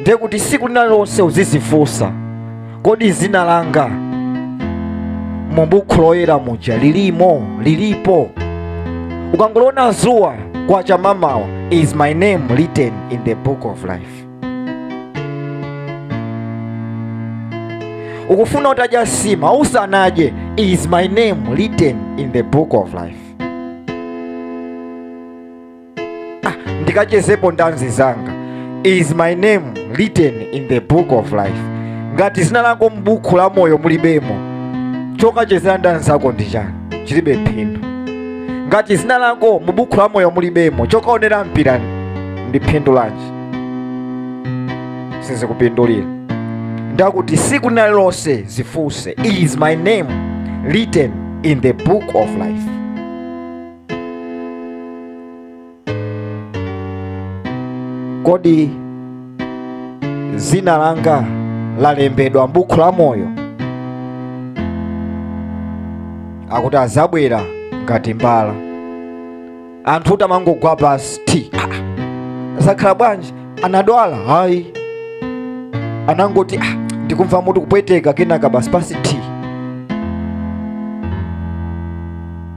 ndiye kuti siku lina lililonse uzizifunsa kodi zina langa mu bukhu loyera lamuja lilimo lilipo ukangoliona zuwa kwa chamamawa is my name written in the book of life ukufuna utadya sima usanadye is my name written in the book of life ah, ndikachezepo ndanzi zanga is my name written in the book of life ngati zina lako m'buku la moyo mulibemo chokachezera ndanzi zako ndi chani chilibe phindu ngati zina lako mu buku la moyo mulibemo chokaonera mpira ndi phindu lanji sizikupindulira ndakuti siku lina lililonse zifunse is my name written in the book of life Kodi dzina langa lalembedwa m'buku la moyo? Akuti adzabwera ngati mbala. Anthutu amangogwa pansi ti. Ah, ah. Zakhala bwanji? Anadwala? Hayi. Anangoti ah, ndikumva mutu kupweteka kenaka basi pansi ti.